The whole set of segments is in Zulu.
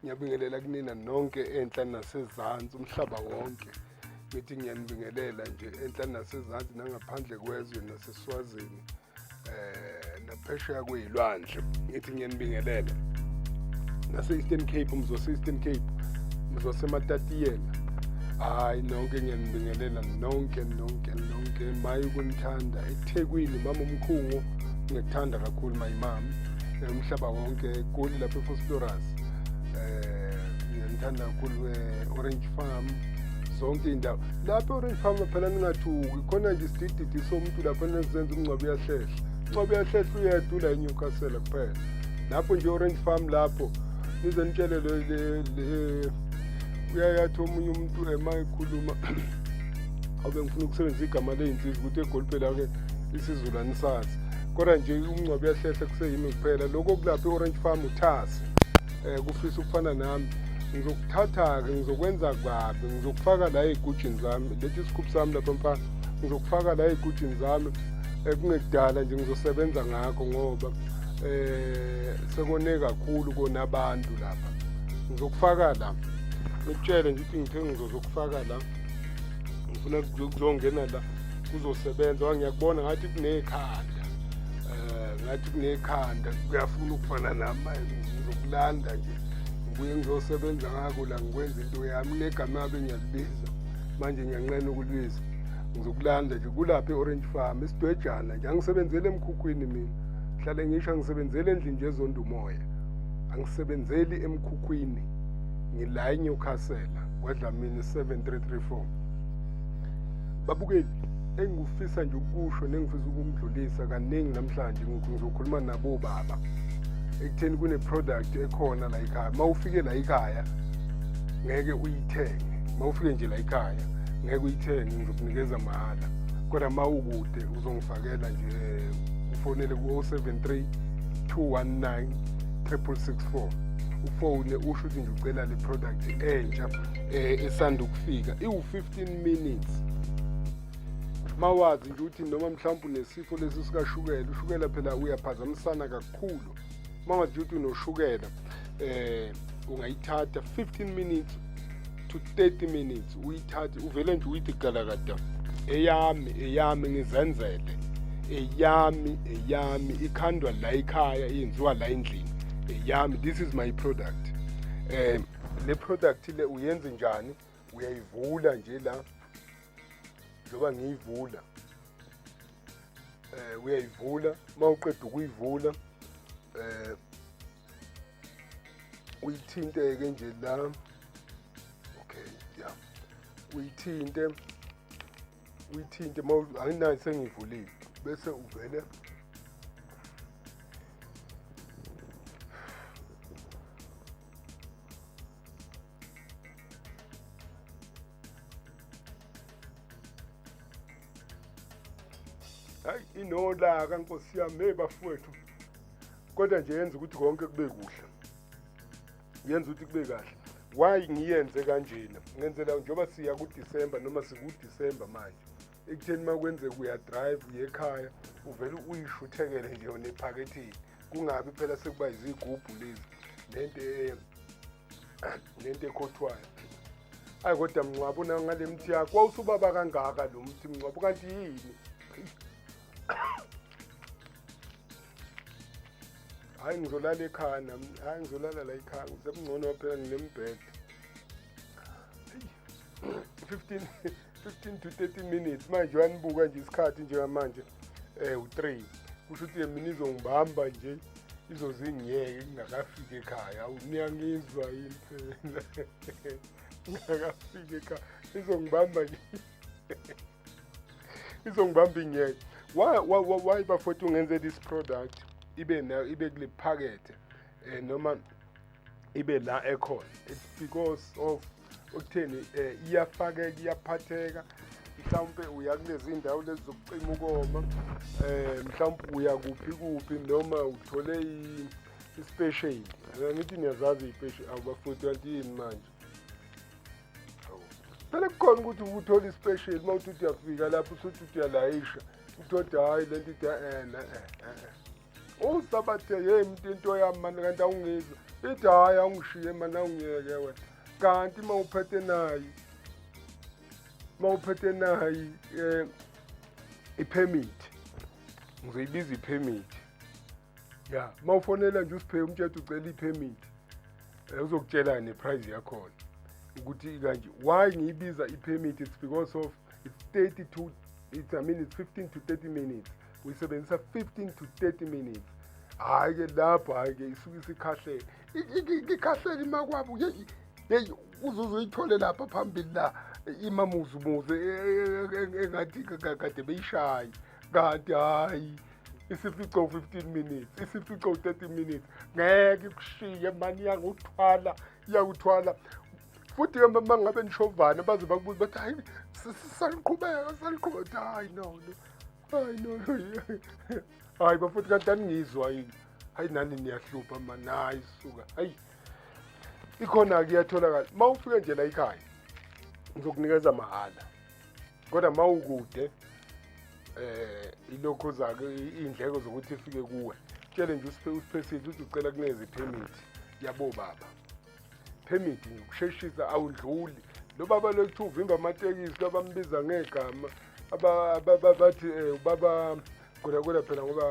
ngiyabingelela kunina nonke enhla nasezansi umhlaba wonke ngithi ngiyanibingelela nje enhla nasezansi nangaphandle kwezwe naseswazini eh naphesheya kuyilwandle ngithi ngiyanibingelela nase-eastern cape umzose-eastern cape mzosematatiyela hayi nonke ngiyanibingelela nonke nonke nonke maye ukunithanda ethekwini mama umkhungu ngiyakuthanda kakhulu mayimami eh, umhlaba wonke egoli lapha efosploras um eh, ngiyanithanda kakhulu we-orange eh, farm zonke iy'ndawo lapha e-orange farm phela ningathuki khona nje isidididi somuntu lapha nezenza umngcwabo uyahlehla umngcwabo uyahlehla uyedwa ula enyukasela kuphela lapho nje orange farm lapho nize nitshele uyayathi omunye umuntu ema ekhuluma obe ngifuna ukusebenzisa igama ley'nsizi ukuthi egolipelake isizulu anisazi kodwa nje umngcwabo uyahlehla kuseyimi kuphela lokho kulapha i-orange farm uthasi um eh, kufisa ukufana nami ngizokuthatha-ke ngizokwenza kabi ngizokufaka la ey'gujini zami lethi isikhuphi sami lapha mfana ngizokufaka la ey'gujini zami ekungekudala eh, nje ngizosebenza ngakho ngoba eh sekone kakhulu kona abantu lapha ngizokufaka la ngikutshele ngithi ngithe ngizokufaka la ngifuna kuzongena la kuzosebenza ngiyakubona ngathi kunekhanda eh, ngathi kunekhanda kuyafuna ukufana nami ngizokulanda nje ngibuye ngizosebenza ngako la ngikwenza into yami kunegama abe ngiyalibiza manje ngiyanqena ukulibiza ngizokulanda nje kulapha e-orange farm esidwejana nje angisebenzeli emkhukhwini mina hlale ngisho angisebenzeli endlini nje ezonda umoya angisebenzeli emkhukhwini ngila enyewcastle kwadlamini 7334 babukeli engikufisa nje ukusho nengifisa ukumdlulisa kaningi namhlanje ngizokhuluma nabo baba ekutheni kune-product ekhona la ikhaya uma ufike la ikhaya ngeke uyithenge uma ufike nje la ikhaya ngeke uyithenge ngizokunikeza mahhala kodwa uma ukude uzongifakela nje ufonele ku-073 219 364 ufone usho ukuthi nje ucela le product entsha eh esanda ukufika iwu15 minutes mawazi nje ukuthi noma mhlawumbe unesifo lesi sikashukela ushukela phela uyaphazamisana kakhulu mawazi nje ukuthi unoshukela eh ungayithatha 15 minutes to 30 minutes uyithathe uvele nje uyithi galakada eyami eyami ngizenzele eyami eyami ikhandwa la ikhaya yenziwa la endlini eyami this is my product um le product le uyenze njani uyayivula nje la njengoba ngiyivula eh uyayivula uma uqeda ukuyivula eh uyithinte ke nje la okay yeah uyithinte uyithinte uma anginayo sengivulile bese uvele hayi inolaka nkosi yami hey bafowethu kodwa nje yenza ukuthi konke kube kuhle yenza ukuthi kube kahle why ngiyenze kanjena ngenzela njengoba siya kuDecember noma sikuDecember manje ekutheni uma kwenzeka uyadrive uye ekhaya uvele uyishuthekele nje yona ephaketheni kungabi phela sekuba izigubhu lezi nento e- nento ekhothwayo ayi kodwa mncwabo na ngale mthi yakho wawusubaba kangaka lo mthi mncwabo kanti yini hayi ngizolala ekhaya nami hayi ngizolala la ekhaya ngisekungcono phela nginembhede 15 15 to 30 minutes manje uyanibuka nje isikhathi njengamanje eh u3 kusho ukuthi mina izongibamba nje izozingiyeke ngingakafiki ekhaya niyangizwa yini phela ngingakafiki ekhaya izongibamba nje izongibamba ingeke why why why bafowethu ungenze this product ibe nayo ibe kule phakethe eh noma ibe la ekhona it's because of ukutheni eh, iyafakeka iyaphatheka mhlawumpe uya kulezi ndawo lezi zokucima ukoma eh mhlawumpe uya kuphi kuphi noma uthole ispecial ngithi niyazazi ipeshi awubafoti kanti yini manje phela kukhona ukuthi uthole ispecial uma uthi uyafika lapho usuthi uyalayisha uthode hayi lento ithi eh, eh, eh, eh usabathe yeni mntu into yami mani kanti awungizwa ithi hhayi awungishiye mani awungiyeke wena kanti uma uphethe nayo uma uphethe nayo um eh, iphemithi ngizoyibiza iphemithi ya uma ufonela nje usiphe umtshetha ucela iphemithi um eh, uzokutshela neprize yakhona ukuthi kanje why ngiyibiza iphemithi it's because of it's 30 to it's, I mean it's 15 to 30 minutes uyisebenzisa 15 to 30 minutes hhayi ke lapho hhayi ke isuke isikhahlele ikhahlele imakwabo yeyi yeyi uzuze uyithole lapha phambili la imamuzumuze e, e, e, engathi kade beyishaye kanti hhayi isifico 15 minutes isifico 30 minutes ngeke kushiye mani iyanguthwala iyakuthwala futhi ke uma ngabe nishovana baze bakubuza bathi hayi saliqhubeka saliqhubeka hayi no no Hayi no. Hayi bafuthu kanti aningizwa yini? Hayi nani niyahlupha mani. Hayi suka. Hayi. Ikhona ke iyatholakala. Mawufike nje la ekhaya. Ngizokunikeza mahhala. Kodwa mawukude eh ilokho zake indleko zokuthi ifike kuwe. Tshele nje usiphe usiphe sithi ucela kuneze permit yabo baba. permit nje ukusheshisa awudluli lo baba lokuthi uvimba amatekisi labambiza ngegama aba- aba- aba- bathi um ubaba kodakoda phela ngoba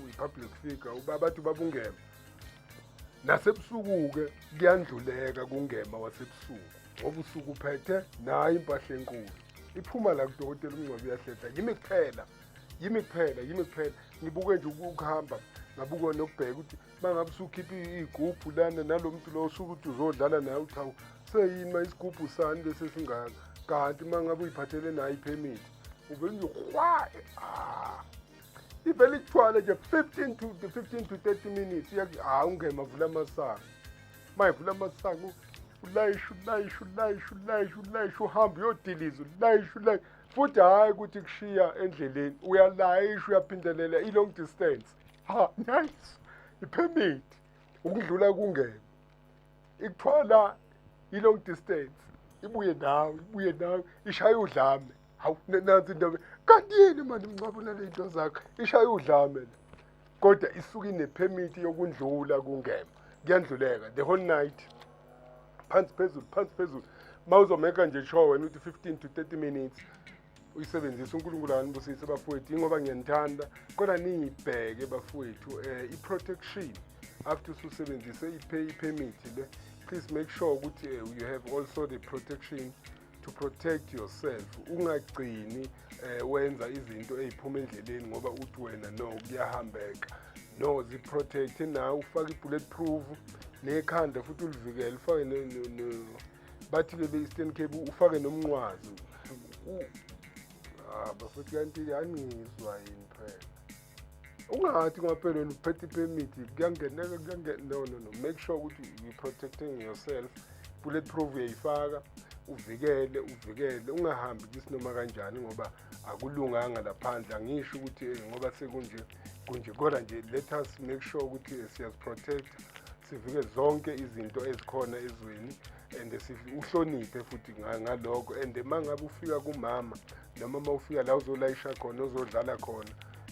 uyi-public figure uba bathi ubaba ungema nasebusuku-ke kuyandluleka kungema wasebusuku ngoba usuku uphethe nayo impahla enkulu iphuma la kudokotela umngcwabo uyahlehla yimi kuphela yimi kuphela yimi kuphela ngibuke nje uku- ukuhamba ngabuke nokubheka ukuthi mangabe usukhipha iy'gubhu lana nalo muntu lo usho ukuthi uzodlala naye uchawu seyini uma isigubhu sani bese singaka kanti uma ngabe uyiphathele nayo iphemithi uvele nje hwaye ah. ivele ikuthwale nje 15 to 15 to 30 minutes iyakuthi hawu ungema vula amasango uma ivula amasango ulayisha ulayisha ulayisha ulayisha ulayisha uhambe uyodiliza ulayisha ulayisha futhi hhayi ukuthi kushiya endleleni uyalayisha uyaphindelela i-long distance ha nice ipermit ukudlula kungena ikuthwala i-long distance ibuye nawe ibuye nawe ishaye udlame hawu na- nansi indaba kanti yini mani mncabo naley'nto zakho ishaye udlame le kodwa isuke inephemithi yokundlula kungema kuyandluleka the whole night phansi phezulu phansi phezulu uma uzomeka nje sure wena uthi 15 to 30 minutes uyisebenzisa unkulunkulu anibusise bafowethu ingoba ngiyanithanda kodwa niyibheke bafowethu um eh, i-protection after ususebenzise i-permit le please make sure ukuthi eh, you have also the protection to protect yourself ungagcini um wenza izinto ey'phuma endleleni ngoba uthi wena no kuyahambeka no ziprotect nawe ufake i-bullet proof nekhanda futhi ulivikele ufake bathi bebe-eastern cape ufake nomnqwazi ah, bafethu kanti anizwa yini phela ungathi kwaphela wena uphethe ipemithi kuyangeneka kuyangena no no no make sure ukuthi you protecting yourself bullet proof uyayifaka uvikele uvikele ungahambi kisinoma kanjani ngoba akulunganga laphandle angisho ukuthi eh, ngoba sekunje kunje kodwa nje let us make sure ukuthi eh, siyaziprotect sivike zonke izinto ezikhona ezweni and uhloniphe futhi ngalokho and uma ngabe ufika kumama noma uma ufika la uzolayisha khona uzodlala khona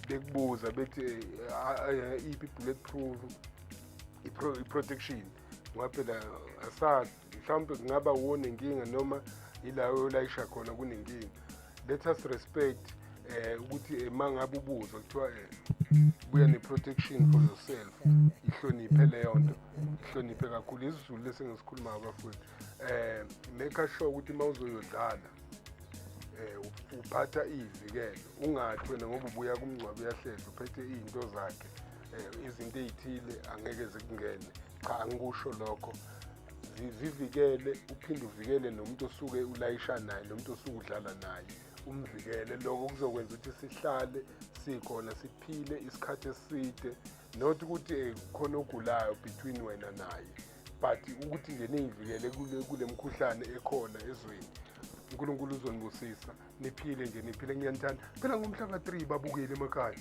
bekubuza bethi eh, iphi i-bullet proof i-protection ngoba phela asazi mhlawumbe kungaba wuwo nenkinga noma yila olayisha khona kunenkinga let us respect um ukuthi eh, uma ngabe ubuzwa kuthiwa um buya ne-protection for yourself ihloniphe leyo nto ihloniphe kakhulu isizulu lesi ngisikhulumayo bafowethu um make sure ukuthi uma uzoyodlala um uphatha iyivikelo ungathi wena ngoba ubuya kumngcwabo uyahleza uphethe iy'nto zakhe um izinto ey'thile angeke zikungene cha angikusho lokho zivikele uphinde uvikele nomuntu osuke ulayisha naye nomuntu osuke udlala naye umvikele lokho kuzokwenza ukuthi sihlale sikhona siphile isikhathi eside not ukuthi eh, khona ogulayo between wena naye but ukuthi nje niyivikele kule mkhuhlane ekhona ezweni unkulunkulu uzonibusisa niphile nje niphile ngiyanithanda phela ngomhla ka-3 babukeli emakhaya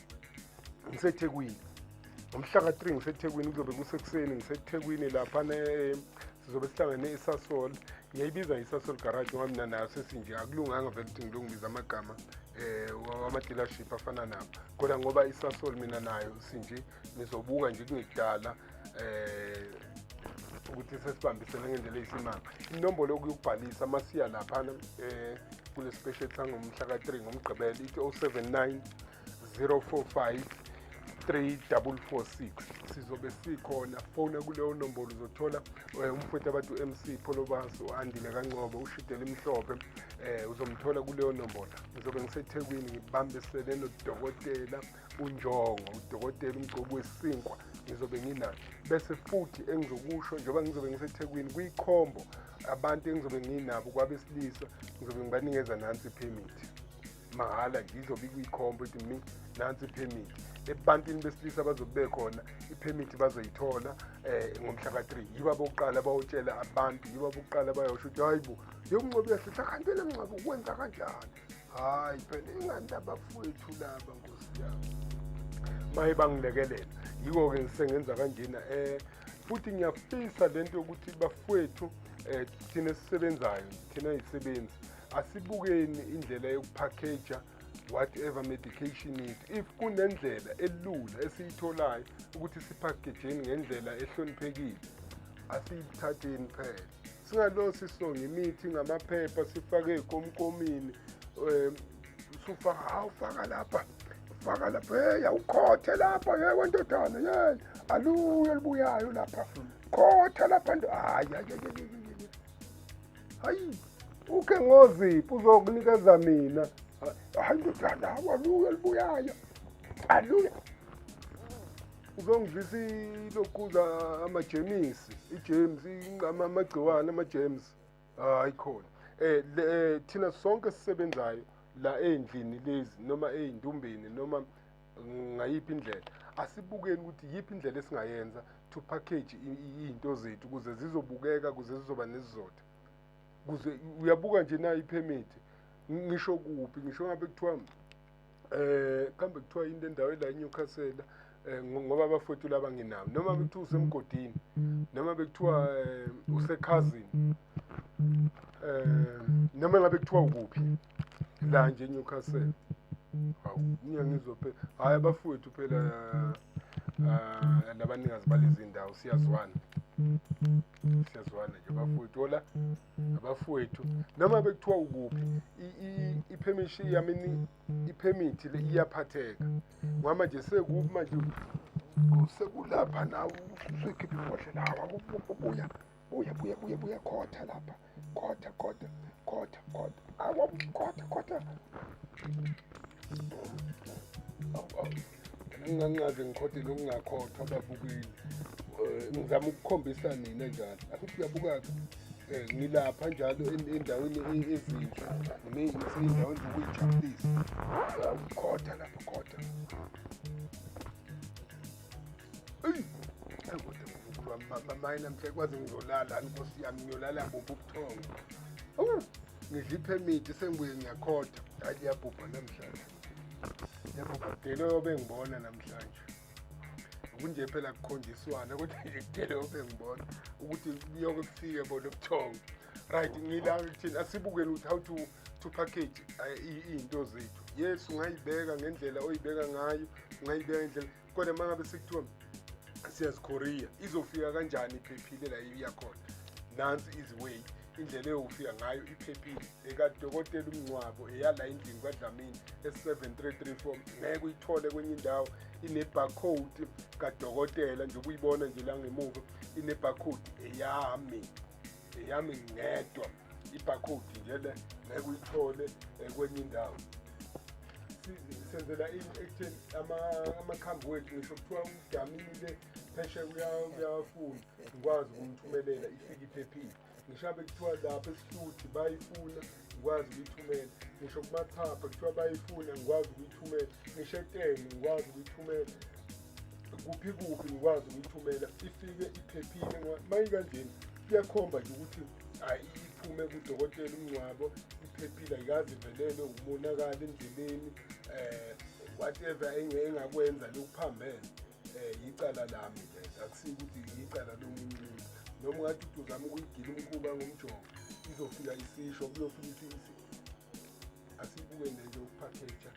ngisethekwini ngomhla ka-3 ngisethekwini kuzobe kusekuseni ngisethekwini laphana eh, sizobe sihlangene esasol ngiyayibiza isasol garage ngoba mina nayo sesinje akulunganga vele ukuthi ngilungibiza amagama um eh, wama-dealership afana nabo kodwa ngoba isasol mina nayo sinje nizobuka nje kungekudala eh ukuthi sesibambisene ngendlela eyisimanga inombolo yokuyokubhalisa masiya laphana eh kule special sangomhla ka-3 ngomgqibelo ithi 079 045 3446 sizobe sikhona fona kuleyo nombolo uzothola eh, umfowethu abantu u-mc pholobaso andile kancobo ushidela imhlophe um uzomthola kuleyo nombolo ngizobe ngisethekwini ngibambisele nodokotela unjongo udokotela umgcobi wesinkwa ngizobe nginayo bese futhi engizokusho njengoba ngizobe ngisethekwini kwikhombo abantu engizobe nginabo kwabesilisa ngizobe ngibanikeza nansi iphemithi mahhala nje izobe ikwikhombo ethi mi nansi iphemithi ebantwini besilisa abazobe bekhona iphemithi bazoyithola um ngomhla ka-three yiba bokuqala bayotshela abantu yiba bokuqala bayosho ukuthi hayi bo yokuncobi yahlehla kanti le mncobi ukwenza kanjani hayi phela ingani labafowethu laba nkosi yami maye bangilekelela yiko-ke ngisengenza kanjena um eh, futhi ngiyafisa le nto yokuthi bafowethu um thina esisebenzayo thina yisebenzi asibukeni indlela yokuphakeja whatever medication it if kunendlela elula esiyitholayo ukuthi siphakejeni ngendlela ehloniphekile asiyithatheni phela singalosi songa imithi ngamaphepha sifake ey'komkomini um sufaka hawu faka lapha faka lapha heyi awukhothe lapha ye wendodana ye aluye olubuyayo lapha khotha lapha nto hayi hayi uke ngoziphi uzokunikeza mina hayi ndodana awaluye olubuyayo aluye uzongidlisa ilokhudla amajemisi ijames inqama amagciwane amajames hayi khona um thina sonke sisebenzayo la ey'ndlini lezi noma ey'ndumbeni noma ngayiphi indlela asibukeni ukuthi yiphi indlela esingayenza to package iy'nto zethu ukuze zizobukeka ukuze zizoba nesizotha kuze uyabuka nje nayo iphemithi ngisho kuphi ngisho ngabe kuthiwa eh kambe kuthiwa into endaweni la eNewcastle eh, ngoba abafowethu laba nginawo noma bekuthiwa usemgodini noma bekuthiwa eh, usekhazini eh noma ngabe kuthiwa ukuphi la nje eNewcastle hawu ngiyangizwa phela hayi abafowethu phela ah, labanikazi balezindawo siyazwana siyazwana nje bafowethu ola abafowethu noma bekuthiwa ukuphi iphemishi yami iphemithi le iyaphatheka ngihamba nje sekubi manje sekulapha nawe usuyikhipha ibhodlela hawa buya buya buya buya buya khotha lapha khotha khotha khotha khotha awa khotha khotha ngingancaze ngikhothile ukungakhothwa ababukeli eh, ngizama ukukhombisa nina njalo akuthi uyabukaka eh, ngilapha njalo endaweni e-, ezinhle ngisezindaweni zokuyijabulisa ukhotha lapha khotha mamayi namhla kwaze ngizolala nkosi yami ngiyolala buphi ubuthongo ngidla iphemithi sengibuye ngiyakhotha hayi iyabhubha namhlanje yebo kudele obengibona namhlanje kunje phela kukhonjiswana kodwa nje kudele obengibona ukuthi kuyoke kufike bona ubuthongo right ngila thina asibukele ukuthi how to to package eh, i- iy'nto zethu yes ungayibeka ngendlela oyibeka ngayo ungayibeka ngendlela kodwa uma ngabe sekuthiwa siyazikhoriya izofika kanjani iphephile la iyakhona nansi iziway indlela eyofika ngayo iphephile ekadokotela umngcwabo eyala endlini kwadlamini e-7334 ngeke uyithole kwenye indawo ine-barcode kadokotela njengoba uyibona nje la ngemuva ine-barcode eyami eyami ngedwa ibhakhodi nje le ngeke uyithole eh, kwenye indawo senzela ini ekutheni amakhambi wethu ngisho kuthiwa udamile pheshe uyafuna ngikwazi ukumthumelela ifike iphephile ngisho abe kuthiwa lapho esihluthi bayifuna ngikwazi ukuyithumela ngisho kumathapha kuthiwa bayifuna ngikwazi ukuyithumela ngisho eteni ngikwazi ukuyithumela kuphi kuphi ngikwazi ukuyithumela ifike iphephile mayikanjeni kuyakhomba nje ukuthi hayi iphume kudokotela umngcwabo iphephile ayikazi ivelelwe umonakala endleleni um whatever engakwenza lokuphambene um yicala lami lento akusiyo ukuthi yicala lomunye umuntu noma ungathi uthi uzama ukuyigila umkhuba ngomjovo izofika isisho kuyofika asibuke nje nje ukuphakeja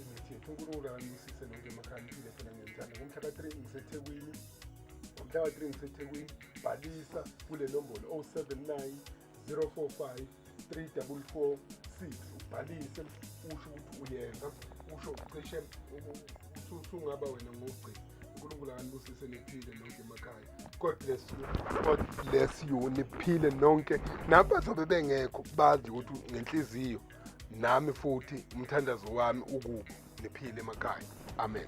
imithi yethu unkulunkulu akamisise nonke emakhalipile phela ngenzana ngomhla ka-three ngisethekwini ngomhla ka-three ngisethekwini bhalisa kule nombolo 079 045 344 6 ubhalise usho ukuthi uyenza usho ucishe usungaba wena ngogcina unkulunkulu akanibusise niphile nonke emakhaya god bless you god bless you niphile nonke nabazobe bengekho bazi ukuthi ngenhliziyo nami futhi umthandazo wami ukubo niphile emakhaya amen